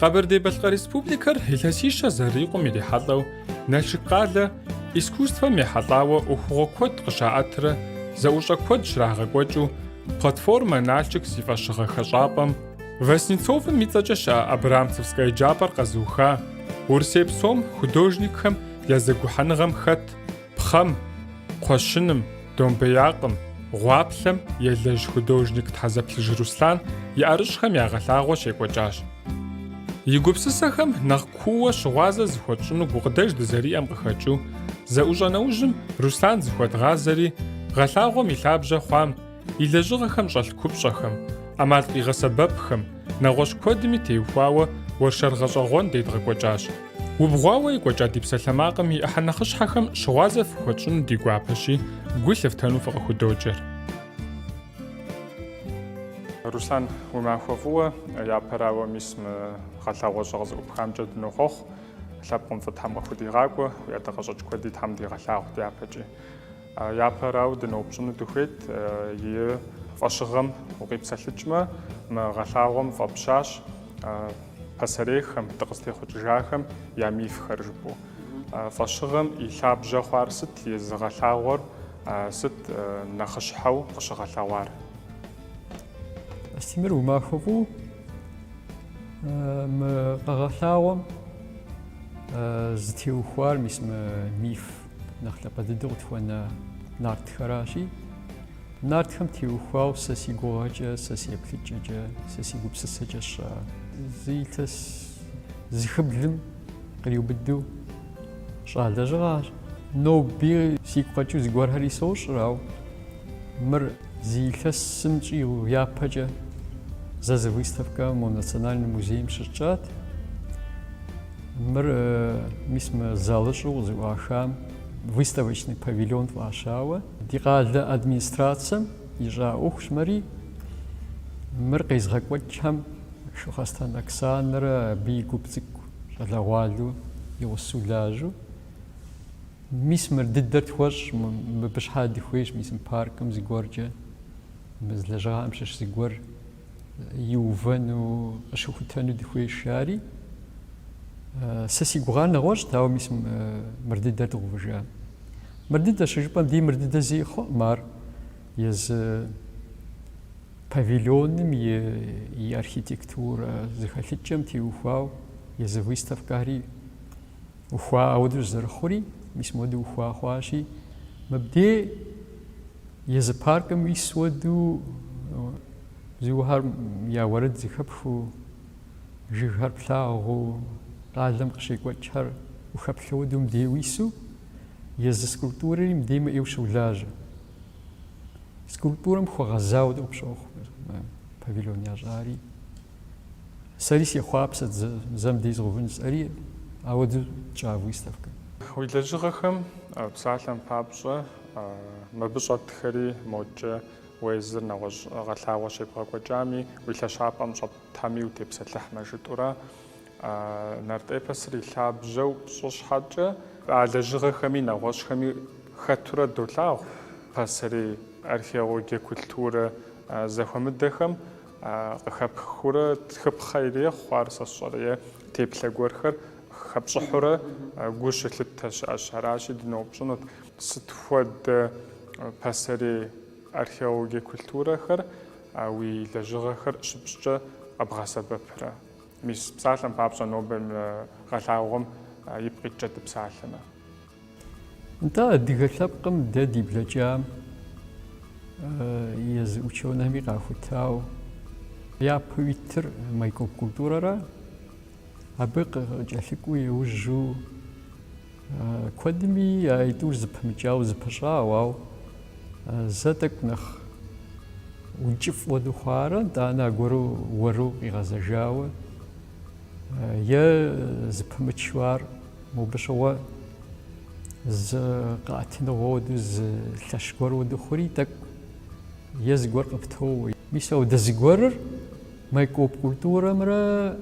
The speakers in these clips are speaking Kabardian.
Къэбэрдей-Балъкъэр Республикэр илъэсищэ зэрикъум ирихьэлӏэу Налшык къалэ искусствэм ехьэлӏауэ ӏуэхугъуэ куэд къыщаӏэтрэ зэӏущӏэ куэд щрагъэкӏуэкӏыу Платформэ Налшык зи фӏэщыгъэ хэщӏапӏэм Васнецовым и цӏэкӏэ щыӏэ Абрамцевскэ еджапӏэр къэзыуха, Урысей псом художникхэм я зэгухьэныгъэм хэт пхъэм, кхъуэщыным, домбеякъым, гъуаплъэм елэжь художник Тхьэзэплъыж Руслъан и ӏэрыщӏхэм я гъэлъагъуэ щекӏуэкӏащ. И гупсысэхэм нэхъ кууэ щыгъуазэ зыхуэтщӏыну гукъыдэж дызэриӏэм къыхэкӏыу, зэӏущӏэ нэужьым Руслъан зыхуэдгъазэри, гъэлъагъуэм и лъабжьэ хъуам, и лэжьыгъэхэм щӏэлъ купщӏэхэм, ӏэмал къигъэсэбэпхэм, нэгъуэщӏ куэдми теухуауэ уэршэр гъэщӏэгъуэн дедгъэкӏуэкӏащ. Убгъуауэ екӏуэкӏа ди псалъэмакъым и ӏыхьэ нэхъыщхьэхэм щыгъуазэ фыхуэтщӏыну ди гуапэщи, гу лъыфтэну фыкъыхудоджэр. Руслъан, уи махуэ фӏыуэ, япэрауэ, мис мы гъэлъэгъуэщӏэ къызэӏупхамкӏэ дынохъуэхъу. Лъэпкъым фӏы Тхьэм къыхудигъакӏуэ, уи ӏэдакъэщӏэкӏ куэди Тхьэм дигъэлъагъу дяпэкӏи. Япэрауэ дыноупщӏыну дыхуейт, и фӏэщыгъэм укъипсэлъыкӏмэ, мы гъэлъагъуэм фӏэпщащ пасэрейхэм, дыкъызытехъукӏыжахэм я мифхэр жыпӏэу. Фӏэщыгъэм и лъабжьэ хъуар сыт, езы гъэлъагъуэр сыт нэхъыщхьэу къыщыгъэлъэгъуар? Астемыр уи махуэ фӏыуэ, мы къэгъэлъагъуэм зытеухуар, мис мы миф Нэхъ лъапӏэ дыдэу къытхуэна нартхэращи, нартхэм теухуауэ сэ си гугъэкӏэ, сэ си еплъыкӏэкӏэ, сэ си гупсысэкӏэ сщӏа, зы илъэс зыхыблым къриубыдэу сщӏа лэжьыгъэщ. Ноби сигу къэкӏыу зыгуэрхэри сощӏыр, ауэ мыр зы илъэсым щӏигъу япэкӏэ зэ зы выставкэ мо Национальный музейм щысщӏат. Мыр, мис мы залыщӏэу къызэӏуахам выставочный павильон фӏащауэ, ди къалэ администрацэм ищӏа ӏуэхущ мыри, мыр къезыгъэкӏуэкӏхэм Шыхъуэстэн Оксанэрэ абы и гуп цӏыкӏу щӏалэгъуалэу и гъусэу лажьэу. Мис мыр дыдэр тхуэщӏ, мыбы щхьэ дыхуейщ, мис мы паркым зыгуэркӏэ, мы лэжьыгъэхэм щыщ зыгуэр. иувэну, къыщыхутэну дыхуейщ жари. Сэ си гугъар нэгъуэщӏт, ауэ мис мыр дыдэр дгъэувыжа. Мыр дыдэ щыжыпӏэм дей мыр дыдэ зэи хъуӏым ар езы павильоным и архитектурэ зэхэлъыкӏэм теухуауэ езы выставкэри. Ухуа ауэдэу зэрыхъури, мис модэу ухуа хъуащи, мыбдей езы паркым уис уэду бзуухэр я уэрэд зыхэпхыу, жыгхэр плъагъуу, къалэм къыщекӏуэкӏхэр ухэплъэу уэду мыбдей уису, езы скульптурэри мыбдей мыӏейу щолажьэ. Скульптурэм хуэгъэзауэ къыпщохъу павильон ящӏари. Сэри сехъуапсэт зэ мыбдей згъэувын сӏэри, ауэдэу тщӏа выставкэ. Уи лэжьыгъэхэм псалъэм папщӏэ мыбы щӏэтхэри мокӏэ, уезыр нэгъуэщӏ гъэлъагъуэ щебгъэкӏуэкӏами, уи лъэщапӏэм щӏэтхэми утепсэлъыхьмэ жытӏурэ, нарт эпосыр и лъабжьэу пщӏы щхьэкӏэ, а лэжьыгъэхэми нэгъуэщӏхэми хэтурэ долъагъу пасэрей археологие культурэ зэхуэмыдэхэм, Къыхэпхыурэ тхыпхъэ ирехъу, ар сэ сщӏэрэ, е теплъэ гуэрхэр хэпщӏыхьурэ гу щылъыттэ щыӏэщ. Аращи, дыноупщӏынут, сыт хуэдэ пасэрей археологие культурэхэр уи лэжьыгъэхэр щыпщӏкӏэ къэбгъэсэбэпрэ? Мис псалъэм папщӏэ, нобэ мы гъэлъагъуэм ипкъ иткӏэ дыпсалъэмэ. Нтӏэ, адыгэ лъэпкъым дэ ди блэкӏам езы учеными къахутау япэу итыр майкоп культурэрэ абы къыкӏэлъыкӏуэу иужьу куэдми а итӏур зэпымыкӏауэ зэпыщӏауэ, ауэ зэ тӏэкӏу нэхъ ункӏыфӏ хуэдэу хъуарэ, нтӏанэ аргуэру уэру къигъэзэжауэ е зыпымычу ар Мобы щыгъуэ зы къэӏэтыныгъуэ уэду, зы лъэщ гуэр уэду хъури тӏэкӏу е зыгуэр къыптоуэ. Мис ауэдэ зыгуэрыр майкоп культурэмрэ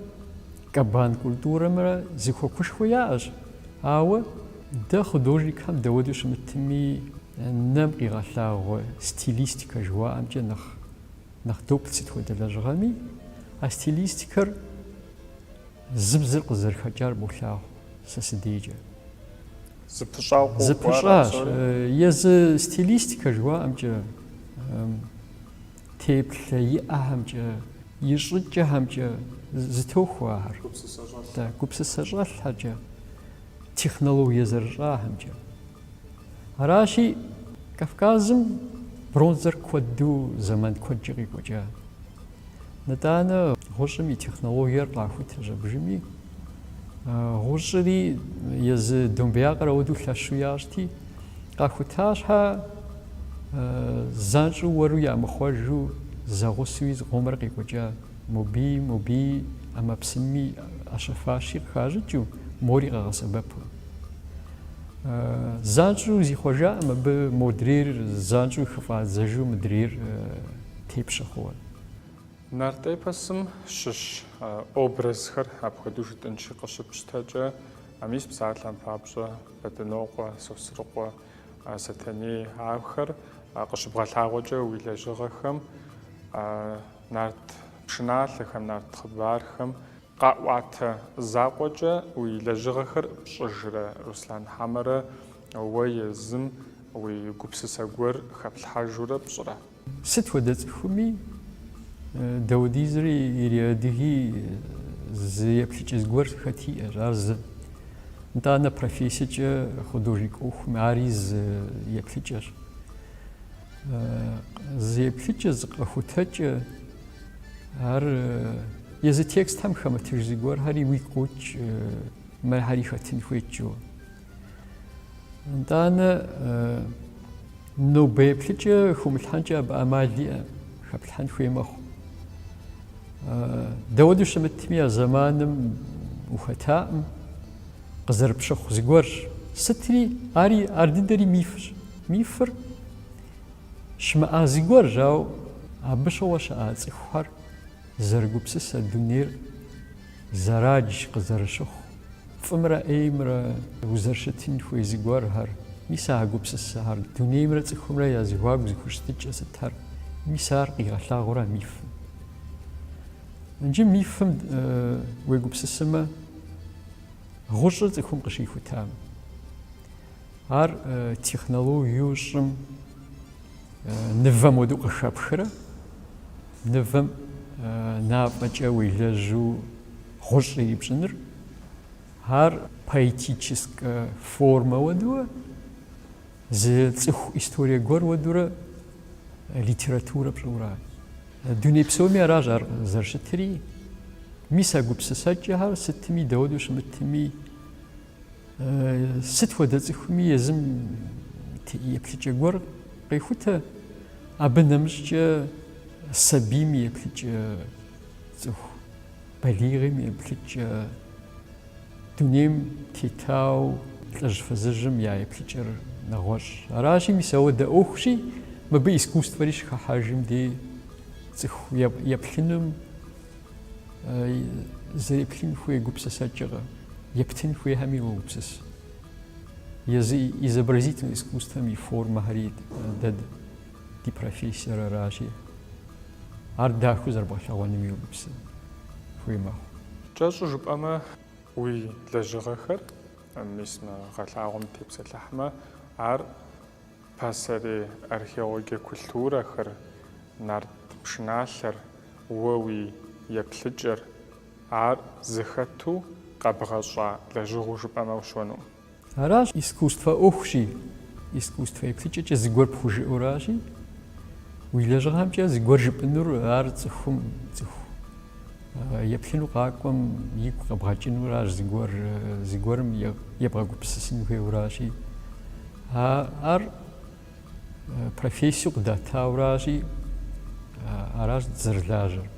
кабан культурэмрэ зэхуакушхуэ яӏэщ. Ауэ дэ художникхэм дауэду щымытми, нэм къигъэлъагъуэ стилистикэ жыхуаӏэмкӏэ нэхъ доплъ сыт хуэдэ лэжьыгъэми, а стилистикэр, Зы бзыр къызэрыхэкӏар болъагъу сэ сыдейкӏэ. Зыпыщӏауэ къохъуар Зыпыщӏащ. апсори? Езы стилистикэ жыхуаӏэмкӏэ, теплъэ иӏэхэмкӏэ, и щӏыкӏэхэмкӏэ зытохуэ ахэр. Гупсысэ щӏэлъхэр. Да, гупсысэ щӏэлъхэмкӏэ, технологие зэрыщӏахэмкӏэ. Аращи, Кавказым бронзэр куэду зэман куэдкӏэ къекӏуэкӏа. Нытӏанэ гъущӏым и технологиер къахута нэужьми, гъущӏри езы домбеякъыр апхуэдэу лъэщу ящӏти, къахута щхьэ занщӏэу уэру ямыхъуэжу зэгъусуи зыкъомрэ къекӏуэкӏа мобий, мобий ӏэмэпсымми ӏэщэ-фащи къыхащӏыкӏыу, мори къагъэсэбэпу. Занщӏэу зихъуэжаӏым абы модрейр занщӏэу хыфӏадзэжу мыдрейр тепщэ хъууэ. Нарт эпосым щыщ образхэр апхуэдэу жытӏэнщи къыщыпщтэкӏэ, мис псалъэм папщӏэ Бэдынокъуэ, Сосрыкъуэ, Сэтэней ахэр къыщыбгъэлъагъуэкӏэ уи лэжьыгъэхэм, нарт пшыналъэхэм, нарт хъыбархэм, къаӏуатэ закъуэкӏэ уи лэжьыгъэхэр пщӏыжрэ, Руслан, хьэмэрэ уэ езым уи гупсысэ гуэр хэплъхьэжурэ пщӏырэ? Сыт хуэдэ цӏыхуми, дауэдизри ириадыги зы еплъыкӏэ зыгуэр хэти иӏэщ, ар зы. Итӏанэ профессиекӏэ художник ӏуэхум ари зы еплъыкӏэщ. Зы еплъыкӏэ, зы къэхутэкӏэ, ар езы текстхэм хэмытыж зыгуэрхэри уигу къокӏ, мыхэри хэтын хуейт жо. Итӏанэ нобэ еплъыкӏэ хумылъхьэнкӏэ абы ӏэмал иӏэ, хэплъхьэн хуей мэхъу. Дауэду щымытми а зэманым ухэтаӏым, къызэрыпщыхъу зыгуэрщ. Сытри ари ар дыдэри мифщ. Мифыр щымыӏа зыгуэрщ, ауэ абы щыгъуэ щыӏа цӏыхухэр зэрыгупсысэ дунейр зэрадж къызэрыщыхъу. Фӏымрэ ӏеймрэ узэрыщытын хуей зыгуэрхэр, мис а гупсысэхэр дунеймрэ цӏыхумрэ я зэхуаку зэхущытыкӏэ сытхэр, мис ар къигъэлъагъуэра мифым? Иджы мифым уегупсысымэ, гъущӏыр цӏыхум къыщихутам, ар технологию щӏым нывэм уэду къыхэпхрэ, нывэм мафӏэкӏэ уелэжьу Гъущӏ ирипщӏыныр, ар поэтическэ формэ уэдурэ, зы цӏыху историе гуэр уэдурэ литературэ пщӏыурэ. Дуней псоми аращ ар зэрыщытри. Мис а гупсысэкӏэхэр сытми, дауэду щымытми, сыт хуэдэ цӏыхуми езым еплъыкӏэ гуэр къехутэ. Абы нэмыщӏкӏэ сабийм и еплъыкӏэ цӏыху. Балигъым еплъыкӏэ. Дунейм тетауэ лӏыжь фызыжьым я еплъыкӏэр нэгъуэщӏщ. Аращи, мис ауэдэ ӏуэхущи, мыбы искусствэри щыхыхьэжым дей цӏыху еплъынум, зэреплъын хуей гупсысэкӏэ ептын хуейхэми уогупсыс. Изобразительнэ искусствэм и формэхэри дэ Ди профессиер аращи, ар дахэу зэрыбгъэлъэгъуэным уегупсысын хуей мэхъу. Кӏэщӏу жыпӏэмэ, уи лэжьыгъэхэр, мис мы гъэлъагъуэм тепсэлъыхьмэ, ар пасэрей археологие культурэхэр, нарт пшыналъэр, уэ уи еплъыкӏэр, ар зыхэту къэбгъэщӏа лэжьыгъэу жыпӏэмэ ущыуэну? Аращ искусствэ ӏуэхущи, искусствэ еплъыкӏэкӏэ зыгуэр пхужыӏэуращи, уи лэжьыгъэмкӏэ зыгуэр жыпӏэнур ар цӏыхум, цӏыху еплъыну къакӏуэм игу къэбгъэкӏынуращ, зыгуэр, зыгуэрым ебгъэгупсысын хуейуращи. Ар профессию къыдатауращи, аращ дызэрылажьэр.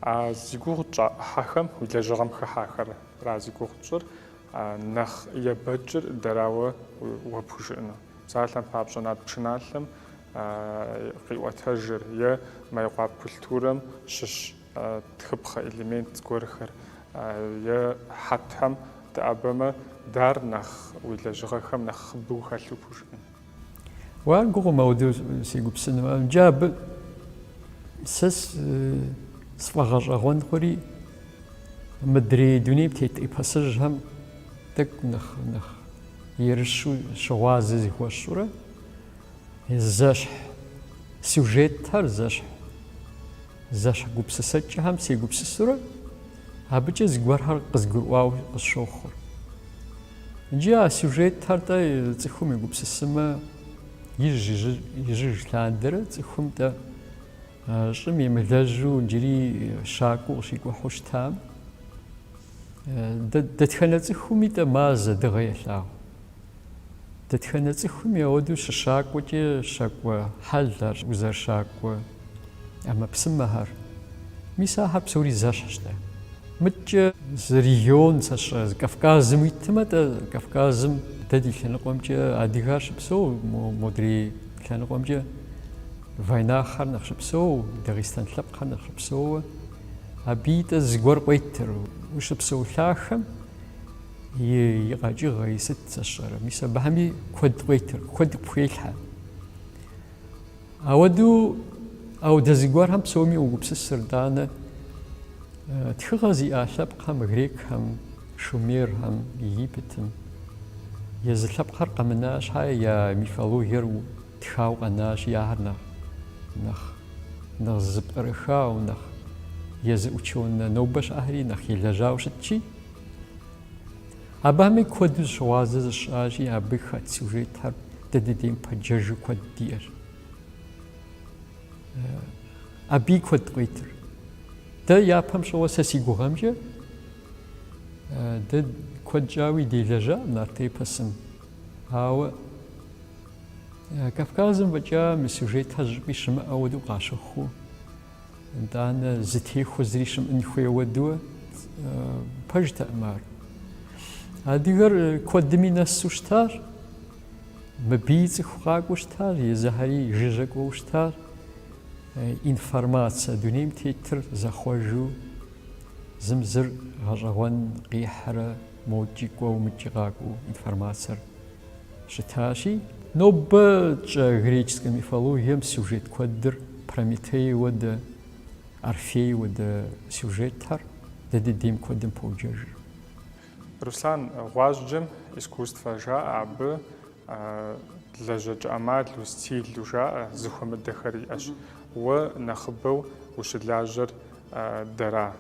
А зи гугъу тщӏа ӏыхьэхэм уи лэжьыгъэм хыхьахэр Ара зи гугъу тщӏыр, нэхъ ебэкӏыр дэрауэ уэ пхужыӏэну? Псалъэм папщӏэ нарт пшыналъэм къиӏуэтэжыр е Майкъуап культурэм щыщ тхыпхъэ элемент зыгуэрхэр е хьэтхэм дыӏэбэмэ, дэр нэхъ уи лэжьыгъэхэм нэхъыбэу хэлъу пхужыӏэн. Уэ ар гугъу моуэдэу сегупсысыну. Иджы абы сэ сфӏэгъэщӏэгъуэн хъури мыдрей дунейм тет эпосыжьхэм тӏэкӏу нэхъ нэхъ ерыщу щыгъуазэ зыхуэсщӏурэ зэщхь сюжетхэр зэщхь Зэщхь гупсысэкӏэхэм сегупсысурэ, абыкӏэ зыгуэрхэр къызгурыӏуауэ къысщохъур. Иджы а сюжетхэр-тӏэ цӏыхум егупсысымэ, ижь-ижьыж лъандэрэ цӏыхум-тӏэ щӏым емылэжьу иджыри щакӏуэу къыщикӏухьу щытам, дэтхэнэ цӏыхуми-тӏэ мазэ, дыгъэ елъагъу. Дэтхэнэ цӏыхуми ауэдэу щыщакӏуэкӏэ щакӏуэ хьэлхэр, узэрыщакӏуэ ӏэмэпсымэхэр. Мис ахэр псори зэщхьщ-тӏэ. Мыдкӏэ зы регион сэ сщӏэ, зы Кавказым уитмэ-тӏэ, Кавказым дэ ди лъэныкъуэмкӏэ адыгэр щыпсэу, модрей лъэныкъуэмкӏэ вайнаххэр нэхъ щыпсэу, дагъистан лъэпкъхэр нэхъ щыпсэууэ. Абыи-тӏэ зыгуэр къуетыр ущыпсэу лъахэм. и и къэкӏыгъэ и сыт сэ сщӏэрэ мис абыхэми куэд къуетыр куэд пхуелъхьэ ауэдэу ауэдэ зыгуэрхэм псоми угупсысыр тӏанэ тхыгъэ зиӏа лъэпкъхэм грекхэм шумерхэм египетым езы лъэпкъхэр къэмына щхьэ я мифологиер Тхауэ къэнащи ахэр нэхъ, нэхъ, нэхъ зэпкърыхауэ, нэхъ езы учёнэ нобэ щыӏэхэри нэхъ елэжьауэ щытщи, абыхэми куэду зыщыгъуазэ зыщысщӏащи, абы хэт сюжетхэр дэ дыдейм пэджэжу куэд диӏэщ. Абыи куэд къуетыр. Дэ япэм щыгъуэ сэ си гугъэмкӏэ дэ куэд щӏауи делэжьа нарт эпосым, ауэ Кавказым фӏэкӏа мы сюжетхэр зыщӏыпӏи щымыӏэ уэдэу къащыхъу. Итӏанэ зытехуэ зыри щымыӏын хуей уэдуэ пэжтэкъым ар. Адыгэр куэдыми нэсу щытар, мыбий цӏыху къакӏуэу щытар, езыхэри жыжьэ кӏуэу щытар. Информацэ дунейм тетыр зэхъуэжу зым зыр гъэщӏэгъуэн къихьрэ мокӏи кӏуэу мыкӏи къакӏуэу информацэр щытащи, нобэкӏэ греческэ мифологием сюжет куэдыр Прометей уэдэ, Орфей уэдэ сюжетхэр дэ дыдейм куэдым поджэжыр. Руслан, гъуазджэм искусствэ жаӏэ, абы лэжьэкӏэ ӏэмал, стиль жаӏэ, зэхуэмыдэхэр иӏэщ. Уэ нэхъыбэу ущылажьэр дэра?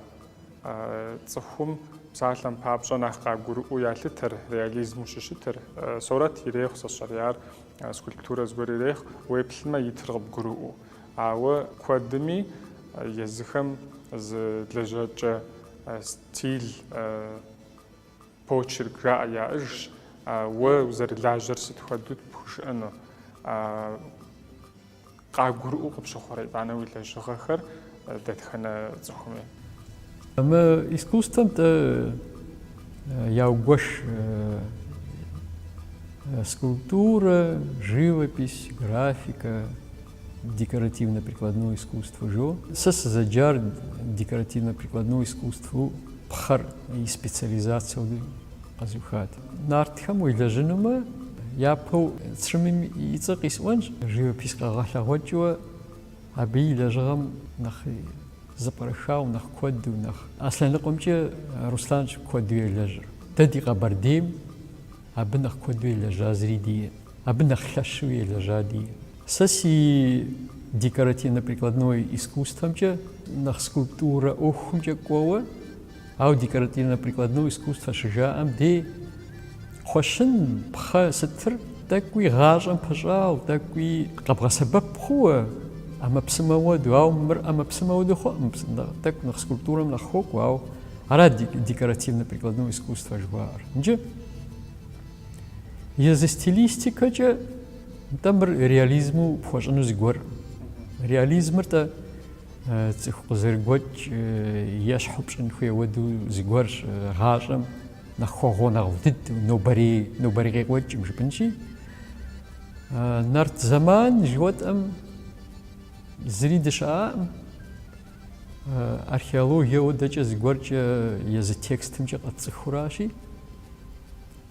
Цӏыхум псалъэм папщӏэ нэхъ къагурыӏуэу ялъытэр, реализму щыщытыр. Сорэт ирехъу, сэ сщӏэри ар, скульптурэ зыгуэр ирехъу, уеплъмэ итыр къыбгурыӏуэу. Ауэ куэдми езыхэм зы лэжьэкӏэ стиль, почерк жаӏэ яӏыжщ, уэ узэрылажьэр сыт хуэдэу пхужыӏэну. Къагурыӏуэу къыпщыхъурэ итӏанэ уи лэжьыгъэхэр дэтхэнэ цӏыхуми? Мы искусствэм тӏэ яугуэш скульптурэ, живопись, графикэ, декоративно-прикладное искусство жо. Сэ сызэджар декоративно-прикладное искусствэу пхъэр и специализацэу къэзухат. Нартхэм уелэжьынумэ, япэу Црымым и цӏэ къисӏуэнщ, живопись къэгъэлъэгъуэкӏыуэ абы и лэжьыгъэм нэхъ зэпкърыхауэ, нэхъ куэду, нэхъ а лъэныкъуэмкӏэ Русланщ куэду елэжьыр. Дэ ди Къэбэрдейм абы нэхъ куэду елэжьа зыри диӏэ, абы нэхъ лъэщу елэжьа диӏэ. Сэ си декоративно-прикладное искусствэмкӏэ нэхъ скульптурэ ӏуэхумкӏэ кӏуэуэ, Ау декоративно-прикладное искусство щыжаӏэм де кхъуэщын пхъэ сытыр тӏэкӏуи гъащӏэм пэщӏау, тӏэкӏуи къэбгъэсэбэп хъууэ, ӏэмэпсымэ уэду. Ау мыр ӏэмэпсымэ уэду хъуӏым, тӏэкӏу нэхъ скульптурэм нэхъ хуокӏуэ, ау ара декоративно-прикладное искусство жыхуаӏэр. Иджы езы стилистикэкӏэ тӏэ мыр реализму пхуэщӏыну зыгуэркъым. Реализмыр тӏэ Цӏыху къызэрыгуэкӏ ещхьу пщӏын хуей уэду зыгуэр гъащӏэм нэхъ хуэгъунэгъуу ди нобэрей нобэрей къекӏуэкӏым жыпӏынщи. Нарт зэман жыхуэтӏэм зыри дыщыӏакъым. Археологие уэдэкӏэ зыгуэркӏэ езы текстымкӏэ къэтцӏыхуращи.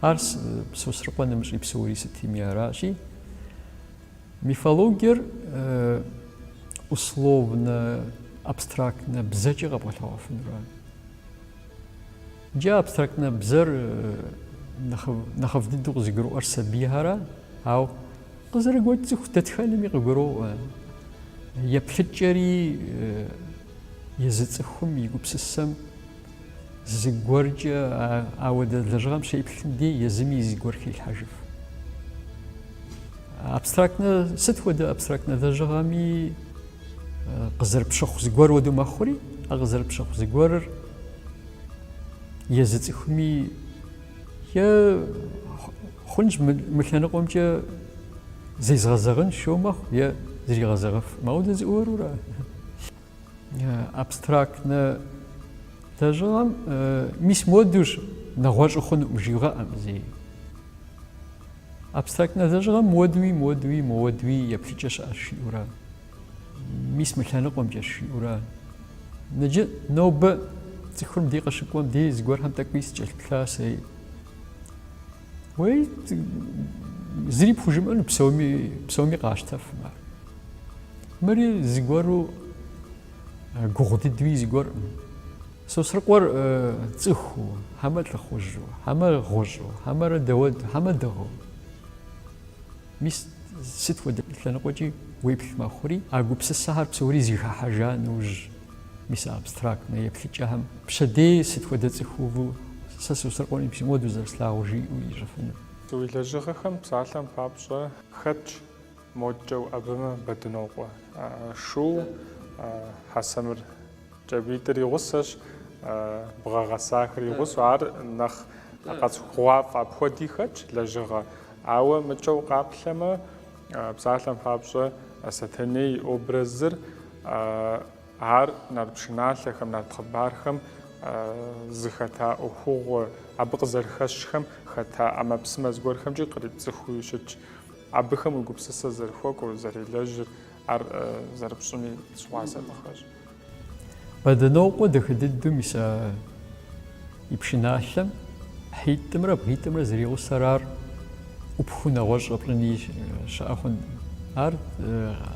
Ар Сосрыкъуэ нэмыщӏи псори сытми аращи, мифологиер условнэ, абстрактнэ бзэкӏэ къэбгъэлъэгъуэфынура. Иджы абстрактнэ бзэр нэхъыфӏ дыдэу къызыгурыӏуэр сабийхьэра, ау къызэрыгуэкӏ цӏыху дэтхэнэми къыгуроӏуэ. Еплъыкӏэри езы цӏыхум и гупсысэм Зыгуэркӏэ ауэдэ лэжьыгъэм щеплъым де, езыми и зыгуэр хилъхьэжыф. Абстрактнэ, сыт хуэдэ абстрактнэ лэжьыгъэми къызэрыпщыхъу зыгуэр уэду мэхъури, а къызэрыпщыхъу зыгуэрыр езы цӏыхуми е хъунщ мы лъэныкъуэмкӏэ зезгъэзэгъынщ жиӏэу мэхъу е зригъэзэгъыф. Мауэдэ зыгуэрура. Абстрактнэ лэжьыгъэм мис модущ нэгъуэщӏу хъунукъым жыуигъэӏэкъым зеи. Абстрактнэ лэжьыгъэм модуи, модуи, модуи еплъыкӏэ щыӏэщ жиӏэура. Мис мы лъэныкъуэмкӏэ жиӏэура. Ныджы нобэ цӏыхур де къыщыкӏуэм де зыгуэрхэм тӏэкӏуи сыкӏэлъыплъа сэ. Уей, зыри пхужымыӏэну псоми къащтэфым ар. Мыри зыгуэру гугъу дыдуи зыгуэркъым. Сосрыкъуэр цӏыхуу, хьэмэ лӏыхъужьу, хьэмэ гъущӏу, хьэмэрэ дэуэду, хьэмэ дыгъэу. Мис, сыт хуэдэ лъэныкъуэкӏи уеплъ мэхъури, а гупсысэхэр псори зэхыхьэжа нэужь, мис а абстрактнэ еплъыкӏэхэм пщэдей сыт хуэдэ цӏыхуу сэ Сосрыкъуэ мис моду зэрыслъагъур жиӏэу ищӏыфыну? Уи лэжьыгъэхэм псалъэм папщӏэ хэтщ модкӏэ уӏэбэмэ Бэдынокъуэ, шу хьэсэмыр Кӏэбитӏыр и гъусэщ, бгъэ гъэсахэр и гъусэу, ар нэхъ къэцӏыхугъуафӏэ апхуэди хэтщ, лэжьыгъэ. Ауэ мыкӏэ укъаплъэмэ, псалъэм папщӏэ, Сэтэней и образыр, ар нарт пшыналъэхэм, нарт хъыбархэм зыхэта ӏуэхугъуэ, абы къызэрыхэщхэм хэта ӏэмэпсымэ зыгуэрхэмкӏи кърипцӏыхуи щытщ. Абыхэм уи гупсысэ зэрыхуэкӏуэр, зэрелэжьыр, ар зэрыпщӏыми щыгъуазэ дыхуэщӏ. Бэдынокъуэ дахэ дыдэу мис а и пшыналъэм хьитӏымрэ бгъитӏымрэ зэригъусэр ар ӏупхыу нэгъуэщӏ щӏэпщӏыни щыӏэ хъун. Ар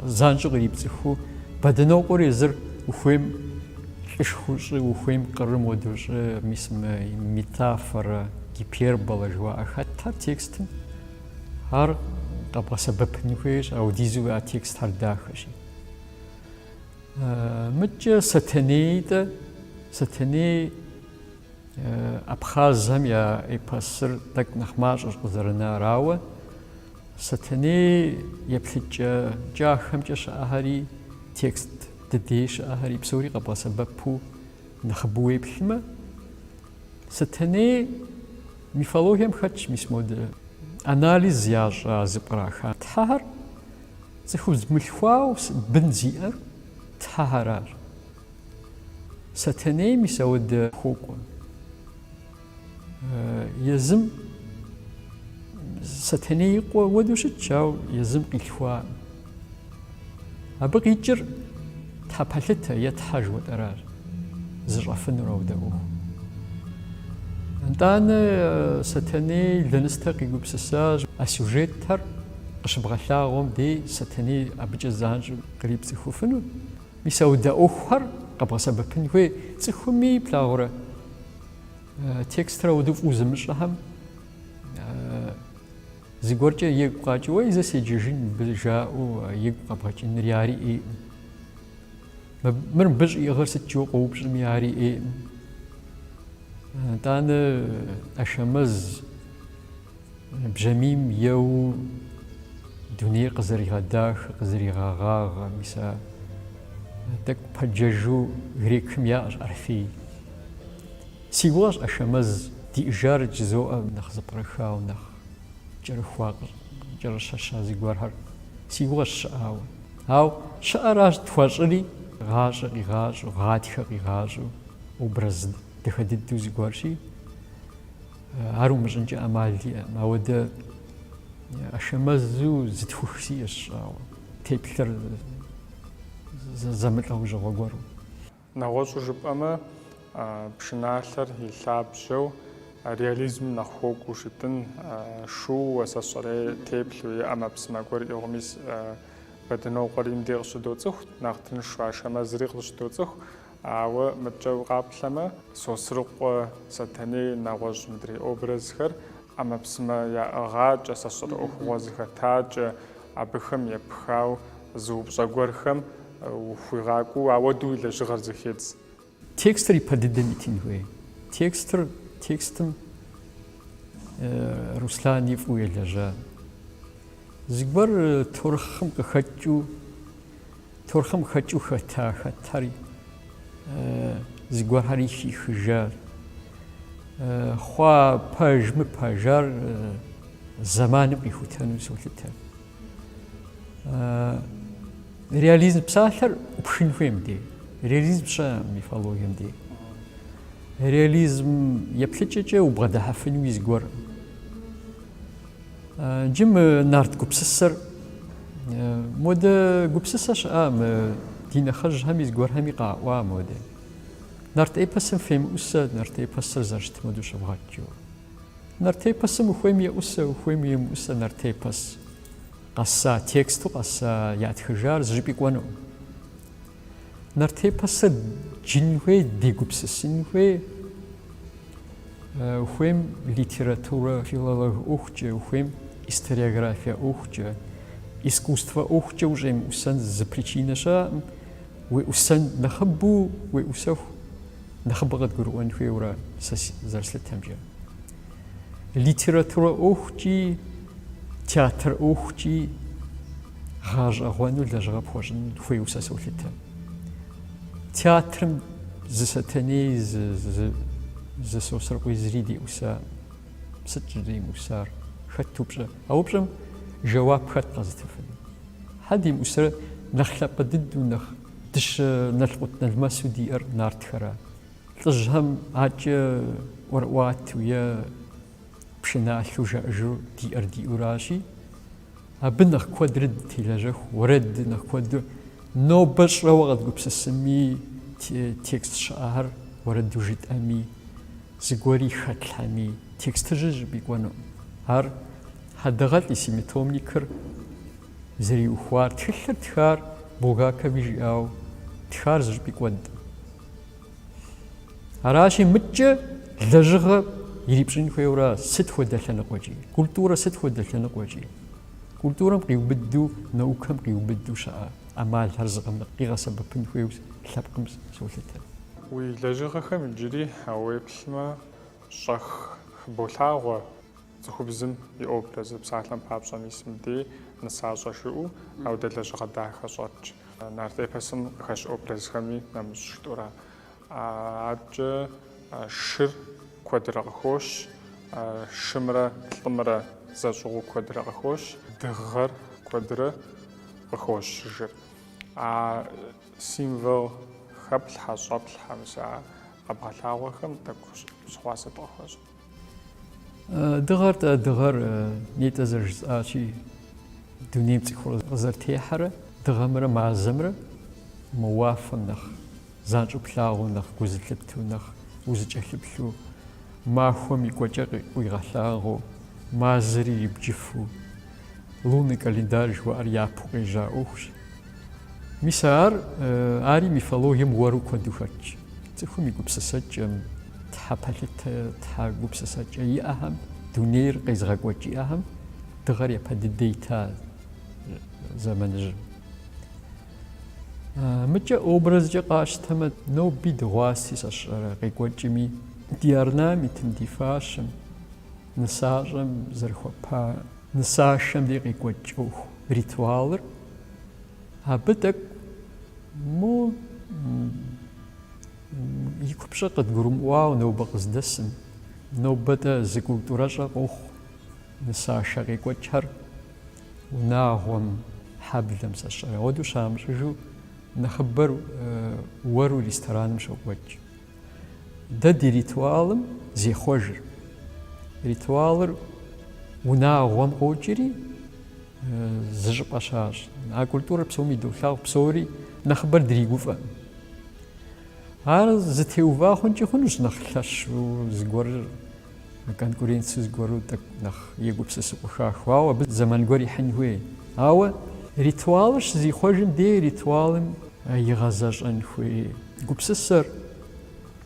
занщӏэу кърипцӏыхуу Бэдынокъуэр езыр ухуейм лӏышхуэу щӏы, ухуейм къырым уэдэу щӏы, мис мы метафорэ, гиперболэ жыуаӏэ хэтхэр текстым, ар къэбгъэсэбэпын хуейщ, аудизу а текстхэр дахэщи. Мыкӏэ Сэтэнейтӏэ, Сэтэней Абхъазхэм я эпосыр тӏэкӏу нэхъ мащӏэщ къызэрынар, ауэ Сэтэней еплъыкӏэ кӏахэмкӏэ щыӏэхэри, текст дыдей щыӏэхэри псори къэбгъэсэбэпу нэхъыбэу уеплъмэ, Сэтэней мифологием хэтщ мис модэ анализ ящӏа зэпкъраха тхьэхэр, Цӏыхубз мылъхуауэ бын зиӏэр Тхьэхэращ. Сэтэней мис ауэдэ хуокӏуэ. Езым Сэтэней и къуэ уэдэу щытщ, ауэ езым къилъхуакъым. Абы къикӏыр Тхьэпэлъытэ е Тхьэ жыхуэтӏэращ. зыщӏэфынур аудэ ӏуэху. Итӏанэ Сэтэней лэныстэ къигупсысащ а сюжетхэр къыщыбгъэлъагъуэм дей Сэтэней абыкӏэ занщӏэу кърипцӏыхуфыну, мис аудэ ӏуэхухэр къэбгъэсэбэпын хуей цӏыхуми плъагъурэ текстыр ауду фӏыуэ зымыщӏэхэм зыгуэркӏэ игу къэкӏыу, уэй, зэ седжэжын мыбы жаӏэу игу къэбгъэкӏыныр ари ӏейкъым. Мыр мыбы щӏиӏыгъыр сыт жиӏэу къоупщӏми ари ӏейкъым. Итӏанэ ӏэшэмэз бжьамийм еуэу дунейр къызэригъэдахэ, къызэригъэгъагъэ, мис а тӏэкӏу пэджэжу грекхэм яӏэщ Орфей. Си гугъэщ ӏэшэмэз диӏэжар жызоӏэ нэхъ зэпкърыхауэ, нэхъ. кӏэрыхуа кӏэрыщэща зыгуэрхэр си гугъэщ щыӏауэ. Ау щыӏэращ тхуэщӏыри, гъащӏэ къигъащӏэу, гъатхэ къигъащӏэу, образ дахэ дыдэу зыгуэрщи, ар умыщӏынкӏэ ӏэмал иӏэкъым. Ауэдэ ӏэшэмэзу зы тхух сиӏэщ щӏауэ, теплъэр зэмылӏэужьыгъуэ гуэру. Нэгъуэщӏу жыпӏэмэ, пшыналъэр и лъабжьэу реализмым нэхъ хуэкӏуэу щытын, шууэ, сэ сщӏэрэ, и теплъэу и ӏэмэпсымэ гуэр ӏигъу, мис Бэдынокъуэри мыдей къыщыдоцӏыху, нэхъ тыншу Ашэмэзри къыщыдоцӏыху, ауэ мыдкӏэ укъаплъэмэ, Сосрыкъуэ, Сэтэней, нэгъуэщӏ мыдрей образхэр ӏэмэпсымэ яӏыгъакӏэ, сэ сщӏэрэ ӏуэхугъуэ зыхэтакӏэ, абыхэм епхауэ зы упщӏэ гуэрхэм ухуигъакӏуэу ауэдэу и лэжьыгъэр зэхедз. Текстыр ипэ дыдэм итын хуей. Текстыр, текстым Руслани фӏыуэ елэжьа. Зыгуэр таурыхъым къыхэкӏыу Таурыхъым хэкӏыу хэта хэтэр зыгуэрхэри хихыжа. Хъуа пэж-мыпэжар зэманым къихутэну солъытэ. Реализм псалъэр пшын хуейм дей. Реализм щэ мифологием дей. Реализм еплъыкӏэкӏэ убгъэдыхьэфынуи зыгуэр. Джы мы нарт гупсысэр модэ гупсысэ щыӏа мы ди нэхъыжьхэми зыгуэрхэми къаӏуа модэ. Нарт эпосым фемыӏусэ нарт эпосыр зэрыщыт модэу щывгъэт жаӏэу. Нарт эпосым ухуейми еӏусэ, ухуейми емыӏусэ нарт эпос къэса тексту къэса ятхыжар зыщӏыпӏи кӏуэнукъым. Нарт эпосыр джын хуей, дегупсысын хуей, ухуейм литературэ филолог ӏуэхукӏэ, ухуейм историография ӏуэхукӏэ, искусствэ ӏуэхукӏэ ущӏемыӏусэн зы причинэ щыӏэкъым, уеӏусэн нэхъыбэу уеӏусэху, нэхъыбэ къыдгурыӏуэн хуейуэ ара сэ зэрыслъытэмкӏэ. Литературэ ӏуэхукӏи, театр ӏуэхукӏи гъэщӏэгъуэну лэжьыгъэ пхуэщӏын хуейуэ сэ солъытэ. Театрым зы Сэтэней, зы, зы, зы Сосрыкъуи зыри деӏусакъым. Сыт щӏыдемыӏусар? Хэт упщӏэ? А упщӏэм жэуап хэт къэзытыфыну? Хьэ демыӏусрэ нэхъ лъапӏэ дыдэу, нэхъ дыщэ налкъут-налмэсу диӏэр нартхэра? Лӏыжьхэм адэкӏэ ӏуэрыӏуатэу е пшыналъэу жаӏэжу диӏэр диӏэу аращи, абы нэхъ куэдрэ дытелэжьэху, уэрэд нэхъ куэду. Нобэ щӏэуэ къэдгупсысми, текст щыӏэхэр уэрэду жытӏэми, зыгуэри хэтлъхьэми, текстыжьыр зыщӏыпӏи кӏуэнукъым. Ар Хьэдэгъалӏэ и семитомникыр зэриухуар, тхылъыр тхар Булгакови жиӏауэ тхар зыщӏыпӏи кӏуэнт. Аращи, мыбыкӏэ лэжьыгъэ ирипщӏын хуейурэ сыт хуэдэ лъэныкъуэкӏи, культурэ сыт хуэдэ лъэныкъуэкӏи, культурэм къиубыду, наукэм къиубыду щыӏэ ӏэмалхэр къигъэсэбэпын хуейуэ лъэпкъым солъытэ. Уи лэжьыгъэхэм иджыри а уеплъмэ щӏэх хыболъагъуэ. Цӏыхубзым и образыр псалъэм папщӏэ мис мыбдей нысащӏэ жыӏэу ауэдэ лэжьыгъэ дахэ щӏэтщ. Нарт эпосым къыхэщ образхэми нэмыщӏ жытӏэурэ. Адэкӏэ шыр куэдрэ къыхощ, шымрэ лӏымрэ зэщӏыгъуу куэдрэ къыхощ, дыгъэр куэдрэ къыхощыжыр. А символ хэплъхьэ, щӏэплъхьэ мис а къэбгъэлъагъуэхэм тӏэкӏу щыгъуазэ дыхуэщӏ. Дыгъэр тӏэ, дыгъэр нетӏэ зэрыжысӏащи, дунейм цӏыхур къызэрытехьэрэ дыгъэмрэ мазэмрэ мы уафэм нэхъ занщӏэу плъагъуу, нэхъ гу зылъыптэу, нэхъ узыкӏэлъыплъу, махуэм и кӏуэкӏэ къуигъэлъагъуэу, мазэри ибджыфу, лунный календарь жыхуаӏэр япэу къежьа ӏуэхущ. Мис ар ари мифологием уэру куэду хэтщ. Цӏыхум и гупсысэкӏэм, тхьэ пэлъытэ, тхьэ гупсысэкӏэ иӏэхэм, дунейр къезыгъэкӏуэкӏ иӏэхэм дыгъэр япэ дыдэ ита зэманыжьым. Мыкӏэ образкӏэ къащтэмэ, ноби дыгъуаси сэ сщӏэрэ къекӏуэкӏми, ди орнаментым, ди фащэм, нысащӏэм зэрыхуэпа Нысашэм ди къекӏуэкӏ ӏуэху ритуалыр абы тӏэкӏу мо и купщӏэ къыдгурымыӏуауэ нобэ къыздэсым. Нобэ-тӏэ зы культурэщӏэ къохъу нысашэ къекӏуэкӏхэр унагъуэм, хьэблэм, сэ сщӏэрэ. Ауэдэу щамыщӏыжу нэхъыбэр уэру рестораным щокӏуэкӏ. Дэ ди ритуалым зехъуэжыр. Ритуалыр унагъуэм къокӏри, зы щӏыпӏэ щащӏ. А культурэр псоми долъагъу, псори нэхъыбэр дригуфӏэкъым. Ар зытеува хъункӏи хъунущ нэхъ лъэщу зыгуэрыр. Мы конкуренци зыгуэру тӏэкӏу нэхъ егупсысыӏуэха, ауэ абы зэман гуэр ихьын хуей. Ауэ ритуалыр щызихъуэжым дей ритуалым игъэзэщӏэн хуей гупсысэр,